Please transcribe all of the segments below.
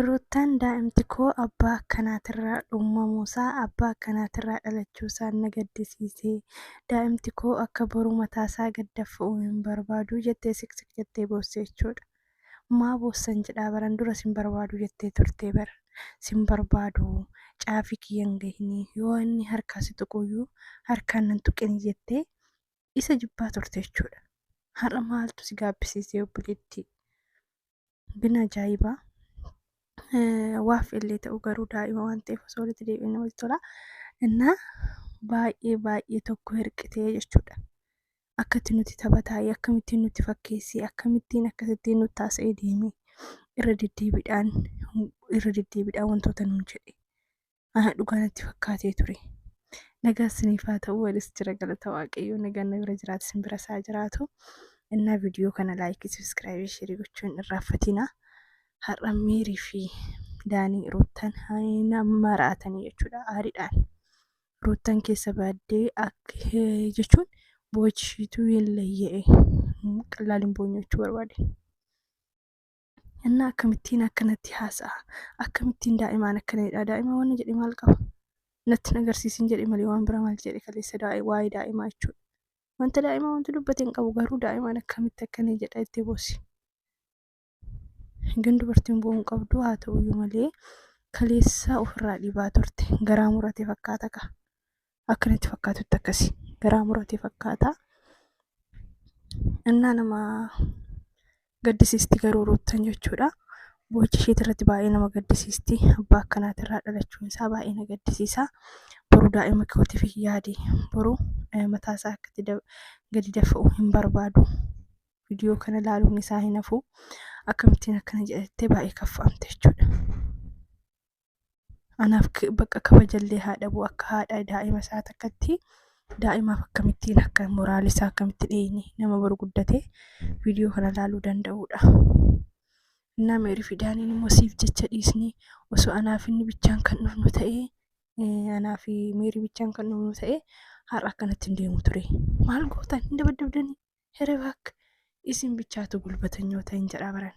Ruuttaan daa'imtikoo abbaa akkanaatirraa dhuumamuusaa, abbaa akkanaatirraa dhalachuusaan na gaddisiise. Daa'imtikoo akka boru mataasaa gad daffa'u hin barbaadu jettee siqsiq jettee boosse jechuudha. Maa boossan jedhaa baran dura sin barbaadu jettee turtee bar. Sin barbaadu caafii kiyyan gahinii yoo inni harkaa si tuquyyuu harkaan nan tuqinii jettee isa jibbaa turte jechuudha. Har'a maaltu si gaabbisiisee obboleettii? Bin ajaa'ibaa. Waaf illee ta'u garuu daa'ima waan ta'eef osoo walitti deebi'e namatti tola. Innaa baay'ee baay'ee tokko hirqitee jechuudha. Akkatti nuti taphataa'ee akkamittiin nuti fakkeessee akkamittiin akkasittiin nuti taasisee deemee irra deddeebiidhaan irra deddeebiidhaan wantoota nuun jedhe. Ana dhugaa natti fakkaatee ture. Nagaa isiniif haa ta'u anis jira galata waaqayyoo nagaan na bira jiraatu isin bira isaa jiraatu. Innaa viidiyoo kana laayikii sabiskiraaybii sheerii gochuun irraanfatina. Har'a miirii fi daanii ruuttan haina maraatanii jechuudha aariidhaan. Ruuttan keessa baaddee akka jechuun boochiituu hin layya'e. Qallaaliin boonyoo jechuu barbaade. Innaa akkamittiin akkanatti haasa'a? Akkamittiin daa'imaan akkana jedha? Daa'ima wanna jedhe maal qaba? Natti hin agarsiisin jedhe malee waan bira maal jedhe kaleessa waa'ee daa'imaa jechuudha. Wanta daa'imaa wanti dubbate hin qabu garuu daa'imaan akkamitti akkana jedha itti boosi. Hangan dubartiin bu'uu hin qabdu haa ta'uyyuu malee kaleessa ofirraa dhibaa turte garaa murate fakkaata ka. akka natti fakkaatutti akkasi garaa murate fakkaata. Innaa nama gaddisiisti garuu ruuttan jechuudha. Boochi isheetii irratti baay'ee nama gaddisiisti. Abbaa akkanaati irraa dhalachuun isaa baay'ee na gaddisiisa. Boruu daa'ima kootiif hin yaade. Boruu mataa isaa akka itti gadi dafa'u hin barbaadu. Viidiyoo kana ilaaluun isaa hin hafu. Akkamittiin akkana jedhattee baay'ee kaffa'amte jechuudha. anaaf k- bakka kabajallee haa dhabu akka haadha daa'ima isaa takkatti daa'imaaf akkamittiin akka moraal isaa akkamitti dhiyeenye nama boru guddate viidiyoo kana laaluu danda'uudha. Innaa meerii fi daaniin immoo siif jecha dhiisnee osoo anaa fi inni bichaan kan dhufnu ta'ee eh, anaa fi meerii bichaan kan dhufnu ta'ee har'a akkanatti hin deemu ture. Maal gootan hin dabaddabdanii? Herebaak isin bichaatu gulbatanyoota hin jedhaa baran.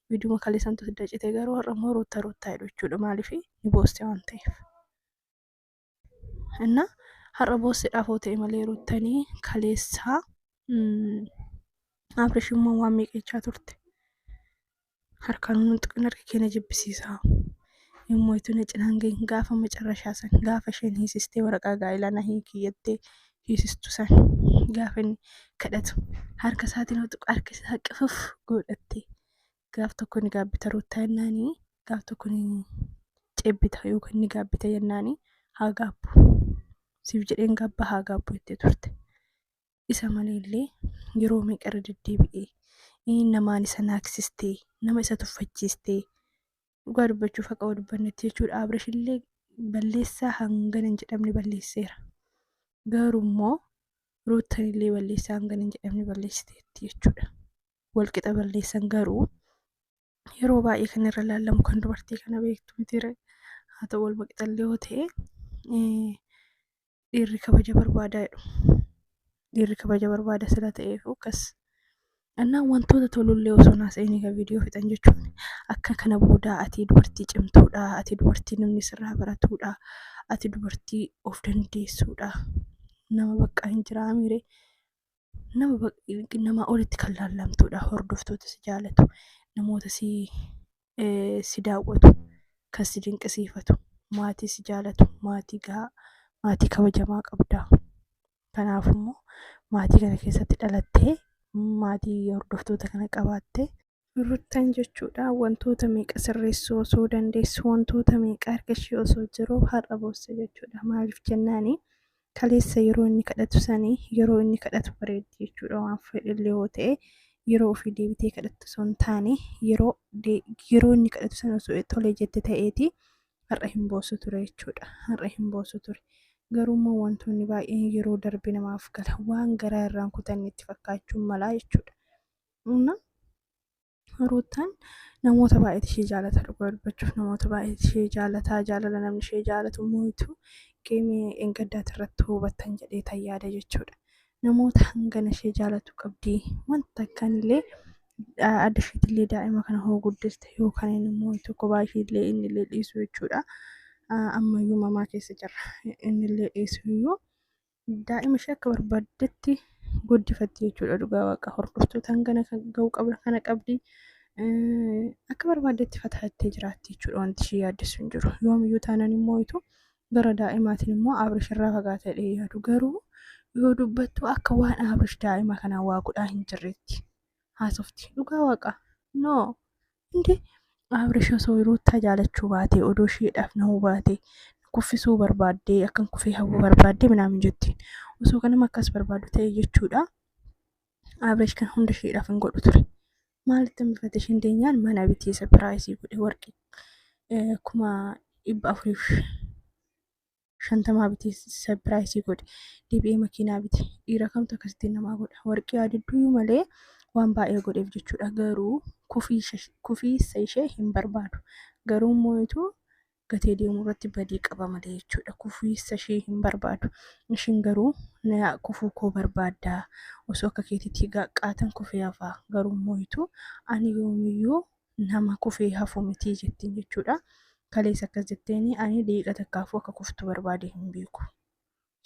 Viiduma kaleessantu sidda cite garuu har'a immoo ruuttaa ruuttaa jedhu jechuudha maaliif ni booste waan ta'eef. Inna har'a boossedhaaf hoo ta'e malee ruuttanii kaleessaa Abrish immoo waan miiqeechaa turte. Harkaan humna tuqin harki keenya jibbisiisaa. Immoo itti na cinaan gahin gaafa macarrashaa san gaafa isheen hiisistee waraqaa gaa'elaa na hiikii jettee hiisistu san gaafa inni kadhatu harka isaatiin yoo tuqu harka isaa qifuf godhattee gaaf tokko ni gaabbita ruuttaa jennaani gaaf tokko ni cebbita yookaan ni gaabbita jennaani haa gaabbu siif jedheen gaabba haa gaabbu jettee turte isa malee illee yeroo meeqa irra deddeebi'ee namaanis isa naaksistee nama isa tuffachiistee Dhugaa dubbachuuf haqa wal dubbannetti jechuudha. Abrash illee balleessaa hangana hin jedhamne balleesseera. Garuu immoo ruuttan illee balleessaa hangana hin jedhamne balleessiteetti jechuudha. Wal qixa balleessan garuu yeroo baay'ee kan irra laallamu kan dubartii kana beektu miti haa ta'u wal qixa illee yoo ta'e dhiirri kabaja barbaadaa jedhu dhiirri kabaja barbaada sila ta'eef akkas annaan wantoota tolullee osoo naas eeniga viidiyoo fixan jechuun akka kana boodaa ati dubartii cimtuudha ati dubartii namni sirraa baratuudha ati dubartii of dandeessuudha nama baqqaa hin jiraa miire nama nama olitti kan laallamtuudha hordoftoota si jaalatu namoota si eh, si daawwatu kan si dinqisiifatu maatii si jaalatu maatii gahaa maatii kabajamaa qabda kanaaf immoo maatii kana keessatti dhalattee maatii hordoftoota kana qabaattee ruttan jechuudha wantoota meeqa sirreessuu osoo dandeessu wantoota meeqa harka ishee osoo jiru har'a boosse jechuudha maaliif jennaani kaleessa yeroo inni kadhatu sanii yeroo inni kadhatu bareeddi jechuudha waan fedhillee yoo ta'e yeroo ofii deebitee kadhattu osoo hin taane yeroo yeroo inni kadhatu sana osoo tolee jette ta'eeti har'a hin boosu ture jechuudha har'a hin boosu ture garuu immoo wantoonni baay'een yeroo darbe namaaf gala waan garaa irraan kutanne itti fakkaachuun malaa jechuudha. Ruuttaan namoota baay'eetu ishee jaalata dhugaa dubbachuuf namoota baay'eetu ishee jaalata jaalala namni ishee jaalatu moo'itu geemii engaddaati irratti hubattan jedhee tan yaada jechuudha. Namoota hangana ishee jaalatu qabdi wanta akkaan illee adda isheetti illee daa'ima kana hoo guddiste yookaan inni immoo tokko baay'ee illee inni illee dhiisu jechuudha. Ammayyuu mamaa keessa jirra inni illee dhiisu iyyuu daa'ima ishee akka barbaaddetti guddifatti jechuudha dhugaa waaqa hordoftoota hangana kan ga'u qabna kana qabdi Eh, akka barbaaddetti fataattee jiraatti jechuudha wanti ishee yaaddessu hin jiru yoomiyyuu taanaan immoo itu gara daa'imaatiin immoo abrish irraa fagaatee dhee yaadu garuu yoo dubbattu akka waan abrish daa'ima kanaa waa godhaa hin jirreetti haasofti dhugaa waaqa no Inde Abrish osoo Ruuttaa jaalachuu baate odoo isheedhaaf nahuu baate kuffisuu barbaaddee akkan kufee hawwuu barbaaddee minaamin jetti. Osoo kanama akkas barbaadu ta'e jechuudha. Abrish kan hunda isheedhaaf hin godhu ture. Maalitti hambifate isheen deenyaan mana bitee sapiraayisii godhe warqii kuma dhibba afuriif shantamaa bitee sapiraayisii godhe deebi'ee makiinaa bite dhiira kamtu akkasitti namaa godha warqii adidduu malee waan baay'ee godheef jechuudha garuu kufiisa ishee hin barbaadu garuu moo'itu gatee deemuu irratti badii qaba malee jechuudha kufiisa ishee hin barbaadu ishiin garuu na kufuu koo barbaaddaa osoo akka keetitti gaqqaatan kufee hafaa garuu moo'itu ani yoomiyyuu nama kufee hafu mitii jettiin jechuudha. Kalees akkas jetteeni ani daqiiqa takkaafuu akka kuftu barbaade hin beeku.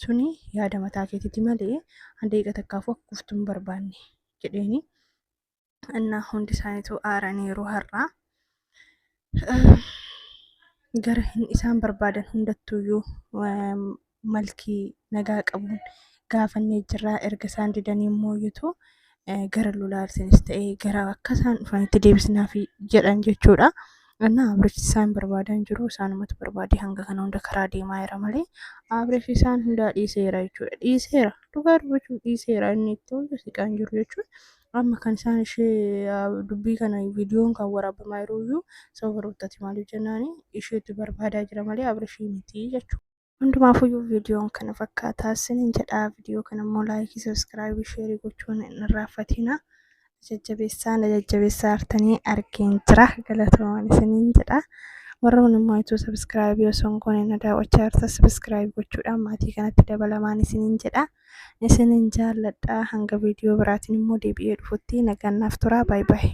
Suni yaada mataa keetiiti malee ani daqiiqa takkaafuu akka kuftu hin barbaanne jedheeni. Annaa hundi isaaniitu aaraniiru har'aa. Gara isaan barbaadan hundattuyyuu malkii nagaa qabuun gaafannee jirraa erga isaan didanii immoo yutu gara lulaarsinis ta'ee gara akka isaan dhufanitti deebisnaaf jedhan jechuudha. Annaa Abresh isaan barbaadan jiru isaanumatu barbaade hanga kana hunda karaa deemaa jira malee Abresh isaan hundaa dhiiseera jechuudha. Dhiiseera dhugaa dubbachuuf dhiiseera inni itti hunda siqaan jiru jechuudha. Amma kan isaan ishee dubbii kana viidiyoon kan waraabamaa jiru iyyuu sababa ruuttati maaliif jennaani isheetu barbaadaa jira malee Abresh miti jechuudha. Hundumaafuyyuu viidiyoon kana fakkaataa isiniin jedhaa viidiyoo kana immoo laayikii sabiskiraayibii sheerii gochuun hin irraanfatina. Jajjabeessaa na jajjabeessaa artanii argeen jira galatoomaan isiniin jedha. Warra kun immoo ituu sabiskiraayibii osoo hin goone na daawwachaa jirta sabiskiraayib gochuudhaan maatii kanatti dabalamaan isiniin jedha. Isiniin jaalladha hanga viidiyoo biraatiin immoo deebi'ee dhufutti nagaan naaf turaa baay'ee.